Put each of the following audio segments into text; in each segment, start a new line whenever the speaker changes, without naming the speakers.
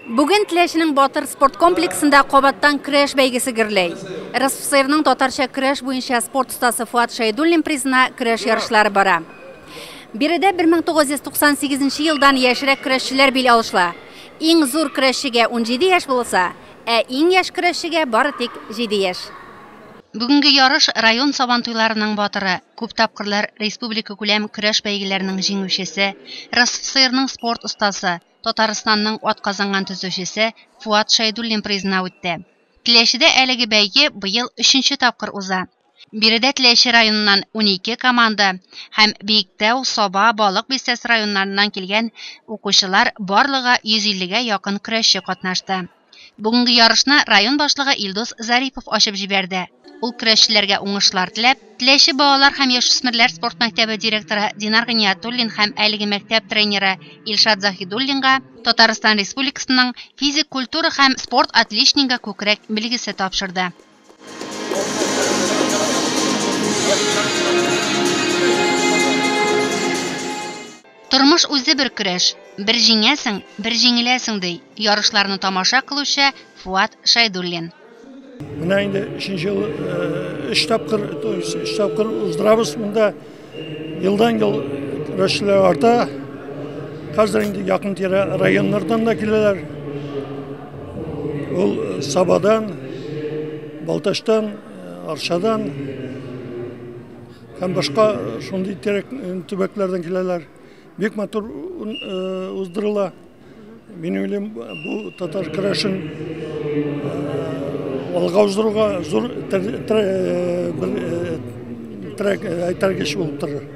Бүген Теләченең Батыр спорт комплексында кабаттан көрәш бәйгесе гөрләй. РСФСРның татарча көрәш буенча спорт остасы Фуат Шәйдуллин призына көрәш ярышлары бара. Биредә 1998 елдан яшьрәк көрәшчеләр бил алышла. Иң зур көрәшчегә 17 яшь булса, ә иң яшь көрәшчегә бары тик 7 яшь. Бүгенге ярыш район Сабантуйларының батыры, күп тапкырлар республикакүләм көрәш бәйгеләренең җиңүчесе, РСФСРның спорт остасы, Татарстанның атказанган төзүчесе Фуат Шәйдуллин призына үтте. Теләчедә әлеге бәйге быел өченче тапкыр уза. Биредә Теләче районыннан унике команда һәм Биектау, Саба, Балык Бистәсе районнарыннан килгән укучылар барлыгы 150 гә якын көрәшче катнашты. Бүгенге ярышны район башлыгы Илдус Зарипов ачып җибәрде. Ул көрәшчеләргә уңышлар теләп, Теләче балалар һәм яшүсмерләр спорт мәктәбе директоры Динар Гыниятуллин һәм әлеге мәктәп тренеры Илшат Заһидуллинга Татарстан Республикасының физик культура һәм спорт отличнигы күкрәк билгесе тапшырды. Тормыш үзе бер көрәш, бер җиңәсең, бер җиңеләсең, ди ярышларны тамаша кылучы Фуат Шәйдуллин. Менә
инде өченче ел өч тапкыр, өч тапкыр уздырабыз монда. Елдан ел көрәшчеләр арта. Хәзер инде якын тирә районнардан да киләләр. Ул э, Сабадан, Балтачтан, э, Арчадан һәм башка шундый терек э, төбәкләрдән киләләр. Бик матур уздырыла. Мин уйлыйм, бу татар көрәшен алга уздыруга зур трек әйтергеч булып торыр.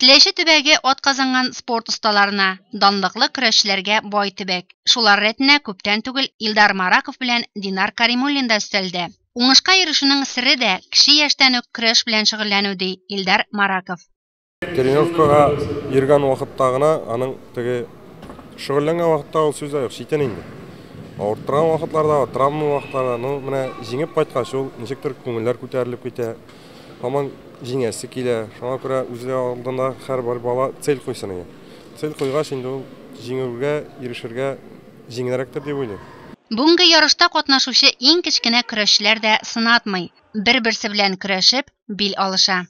Теләче
төбәге атказанган спорт осталарына, данлыклы көрәшчеләргә бай төбәк. Шулар рәтенә күптән түгел Илдар Мараков белән Динар Каримуллин да өстәлде. Уңышка ирешүнең сере дә кече яшьтән үк көрәш белән шөгыльләнү, ди Илдар Мараков. Тренировкага
йөргән вакытта гына аның теге шөгыльләнгән вакытта ул сүз дә юк, читен инде. Авырттырган вакытларда, травма вакытларда, ну, менә җиңеп кайткач ул ничектер күңелләр күтәрелеп китә. Һаман җиңәсе килә. Шуңа күрә үзе алдында һәрбер бала цель куйсын иде. Цель куйгач инде ул җиңүгә ирешергә җиңелрәктер дип уйлыйм. Бүгенге ярышта
катнашучы иң кечкенә көрәшчеләр дә сынатмый, бер-берсе белән көрәшеп, бил алыша.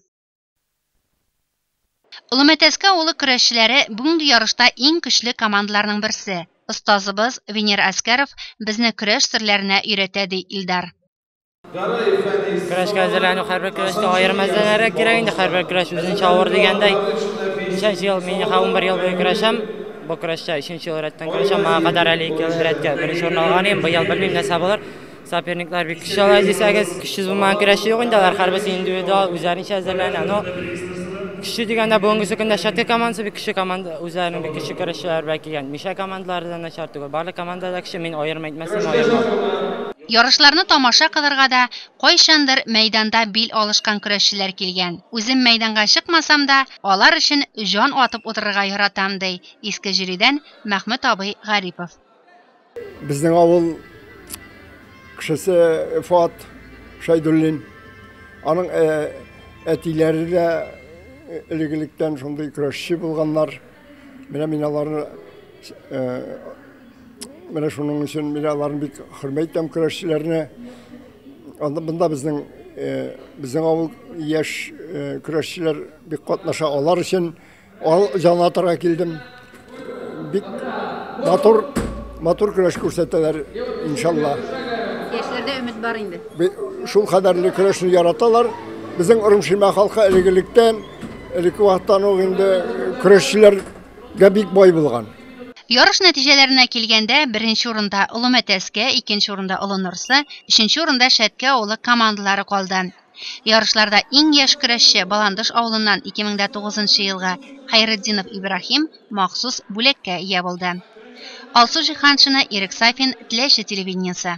Олымәтәскә авылы көрәшчеләре бүгенге ярышта иң көчле командаларның берсе. Остазыбыз Венер Әскәров безне көрәш серләренә өйрәтә, ди Илдар. Көрәшкә
әзерләнү һәрбер көрәштә аерым әзерләнергә кирәк инде, һәрбер көрәш үзенчә авыр дигәндәй. Ничәнче ел, мин ха 11 ел буе көрәшәм. Бу көрәштә өченче ел рәттән көрәшәм. Моңа кадәр әле ике ел рәткә беренче урын алган идем. Быел белмим нәрсә булыр. Соперниклар бик көчле алар дисәгез, көчсез булмаган көрәшче юк инде, алар һәрберсе индивидуал үзләренчә әзерләнә. Но көчле дигәндә бүгенге көндә Шәткә командасы бик көчле команда, үзләренең бик көчле көрәшчеләре белән килгән. Мишә командалары да начар түгел, барлык команда да көчле, мин аерым әйтмәсәм аермам. Ярышларны
тамаша кылырга да кайчандыр мәйданда бил алышкан көрәшчеләр килгән. Үзем мәйданга чыкмасам да, алар өчен җан атып утырырга яратам, ди Иске Җөридән Мәхмүт абый Гарипов.
Безнең авыл кешесе Фат Шайдуллин. Аның әтиләре дә элегелектән шундый көрәшче булганнар. Менә мин аларны менә шуның өчен мин аларны бик хөрмәт итәм көрәшчеләрне. Анда монда безнең безнең авыл яшь көрәшчеләр бик катнаша алар өчен Ал җанатырга килдем. Бик матур, матур көрәш күрсәтәләр, иншалла. Яшьләрдә
өмет бар инде. Шул кадәрле
көрәшне яраталар. Безнең Урымшимә халкы элегелектән, элекке вакыттан ук инде көрәшчеләргә бик бай булган. Ярыш
нәтиҗәләренә килгәндә, беренче урында Олы Мәтәскә, икенче урында Олы Норсы, өченче урында Шәткә авылы командалары калды. Ярышларда иң яшь көрәшче Баландыш авылыннан 2009 нчы елгы Хәйретдинов Ибраһим махсус бүләккә ия булды. Алсу Җиһаншина, Ирек Сафин, Теләче телевидениесе.